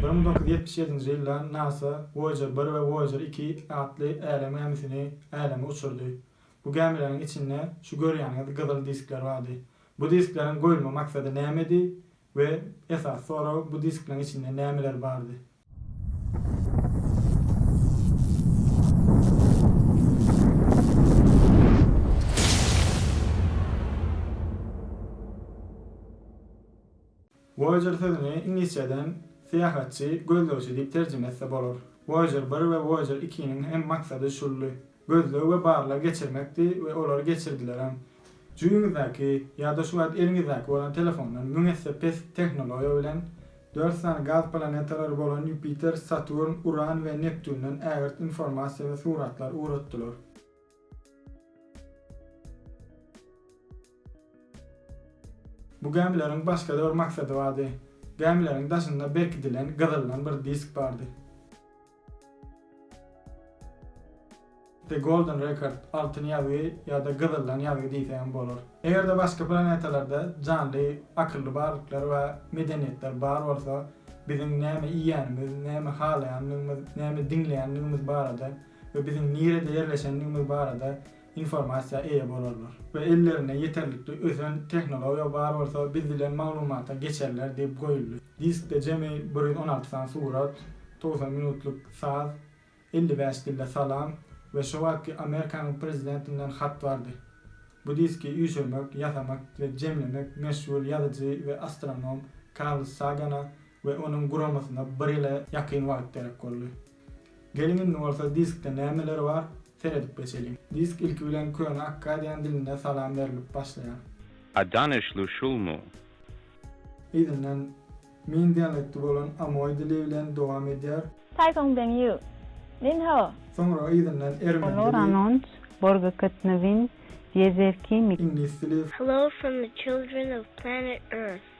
Müň dokuz ýüz ýetmiş ýedinji ýyldan nasa Voýajer bir we Voýajer iki atly älem gämisini äleme uçurdy. Bu gämileriň içinde şu görýäniňiz gyzyl diskler bardy. Bu diskleriň goýulma maksady nämedi we esasy sorag bu diskleriň içinde nämeler bardy? Voyager sözüni iňlisçeden syýahatçy, gözlegçi diýip terjime etse bolar. Voyager bir we Voyager ikiniň hem maksady şuldy. gözleg we barlag geçirmekdi we olary geçirdilerem. Jübiňizdäki ýa-da şu wagt eliňizdäki bolan telefondan müň esse pes tehnologiýa bilen, dört sany gaz planetalary bolan Ýupiter, Saturn, Uran we Neptunden ägirt informasiýa we suratlar ugratdylar. Bu gämileriň başga-da bir maksady bardy. Gämileriň daşynda berkidilen gyzyldan bir disk bardy. The Golden Record, Altyn ýazgy ýa-da Gyzyldan ýazgy diýse hem bolar. Eger-de başga planetalarda janly, akylly barlyklar we medeniýetler bar bolsa, biziň näme iýýänimiz, näme halaýanlygymyz, näme diňleýänligimiz barada we biziň nirede ýerleşenligimiz barada informasiýa eýe bolarlar we ellerinde ýeterlikli ösen tehnologiýa bar bolsa biz dilen maglumata geçerler diýip goýuldy. Diskde jemi bir ýüz on alty sany surat, togsan minutlyk saz, elli bäş dilde salam we şo wagtky Amerikanyň prezidentinden hat bardy. Bu diski üýşürmek, ýasamak we jemlemek meşhur ýazyjy we astronom Karl Sagana we onuň guramasyna bir ýyla ýakyn wagt gerek boldy. Geliň indi bolsa diskde nämeler bar, seredip geçeliň. Disk ilki bilen köne akkadian dilinde salam berlip başlaýar. A danyşly şulmy? Yzyndan Min dialekti bolan Amoý dili bilen dowam edýär. Taýsoň Beng Ýu, Min Ho. Soňra yzyndan Ermen dili. Loranont, Borga Ketnewin, Ýezer Kimi. Iňlis dili. Hello from the children of planet Earth.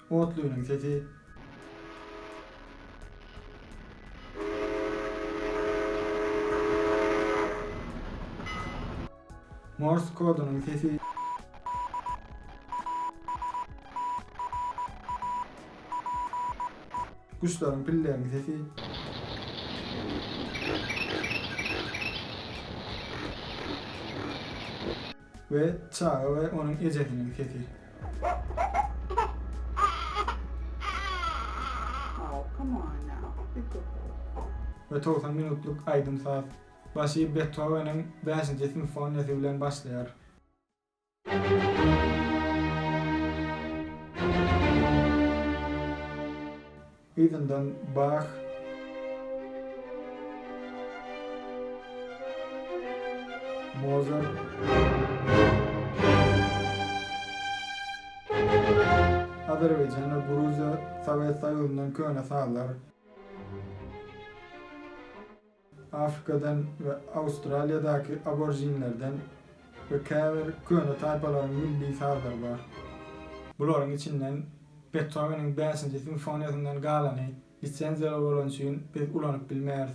Otlynyň sesi. Mors kodunyň sesi. Guşlaryň pilleň sesi. We çaga we onuň ejesiniň sesi. We togsan minutlyk aýdym-saz. Başy Bethoweniň bäşinji simfoniýasy bilen başlaýar. Yzyndan bag. Mozart. Azerbaýjan we Gruziýa Sowet Soýuzyndan köne sazlar. Afrikadan we Awstraliýadaky aborjinlerden we käbir köne taýpalaryň milli sazlary bar. Bularyň içinden Betoweniň bäşinji simfoniýasyndan galany lisenziýaly bolany üçin biz ulanyp bilmeris.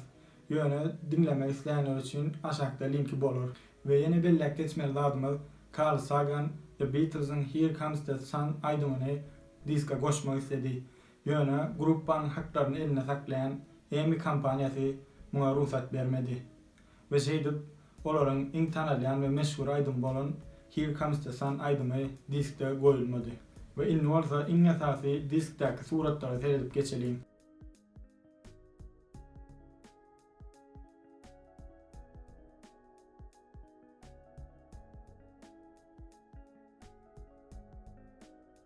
Ýöne diňlemek islänler üçin aşakda linki bolar. We ýene belläp geçmeli zadymyz, Karl Sagan The Beatles-iň Here Comes the Sun aýdymyny diska goşmak isledi. Ýöne gruppanyň haklaryny elinde saklaýan Emmy kompaniýasy muňa rugsat bermedi we şeýdip, olaryň iň tanalýan we meşhur aýdymy bolan Here Comes the Sun aýdymy diskde goýulmady. We indi bolsa iň esasy diskdäki suratlara seredip geçeliň.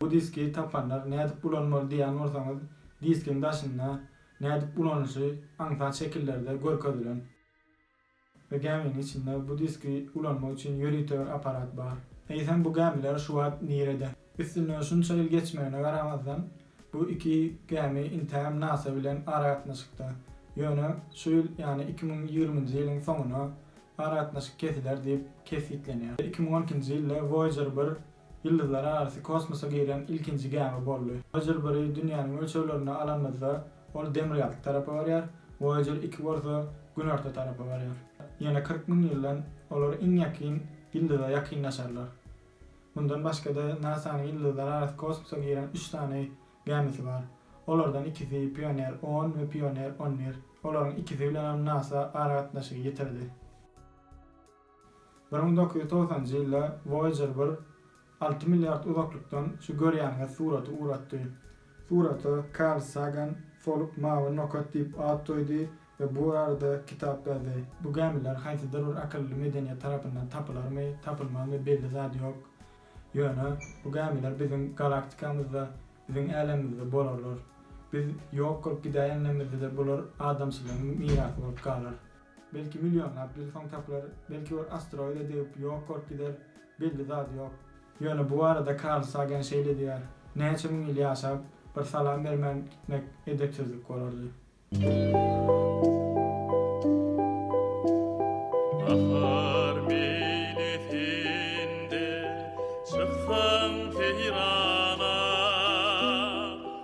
Bu diski tapanlar nädip ulanmaly diýýän bolsaňyz, diskiň daşynda nädip ulanyşy aňsat şekillerde görkezilen. Bu gäminiň içinde bu diski ulanmak üçin ýörite bir apparat bar. Eýsem bu gämiler şu wagt nirede? Üstünden şunça ýyl geçmegine garamazdan, bu iki gämi intäm nasa bilen aragatnaşykda. Ýöne şu ýyl, ýagny iki müň ýigriminji ýylyň soňuna aragatnaşyk kesiler diýip kesgitlenýär. Iki müň on ikinji ýylda Voýajer bir ýyldyzlararasy kosmosa girýän ilkinji gämi boldy. Voyager biri dünýäniň ölçeglerinde alanymyzda ol demirgazyk tarapa barýar, Voyager iki bolsa günorta tarapa barýar. Ýene kyrk müň ýyldan olar iň ýakyn ýyldyza ýakynlaşarlar. Mundan başga-da NASA-nyň ýyldyzlararasy kosmosa giren üç sany gämisi bar. Olardan ikisi Pioneer on we Pioneer on bir. Olaryň ikisi bilenem NASA aragatnaşygy ýitirdi. Bir müň dokuz ýüz togsanjy ýylda Voýajer bir alty milliard uzaklykdan şu görýäniňiz suraty uratdy. Surata Karl Sagan Soluk mawy nokat diýip at goýdy we bu barada kitap ýazdy. Bu gämiler haýsydyr bir akylly medeniýet tarapyndan tapylarmy, tapylmazmy belli zat ýok. Ýöne bu gämiler biziň galaktikamyzda, biziň älemimizde bolarlar. Biz ýok bolup gidäýenimizde-de bular adamçylygyň mirasy bolup galar. Belki millionlap ýyl soň tapylar, belki bir asteroide degip ýok bolup gider, belli zat ýok. Ýöne bu barada Karl Sagan şeýle diýýär, Näçe müň ýyl ýaşap, bir salam bermän gitmek edepsizlik bolardy. Bahar meýlisinde çyksaň seýrana.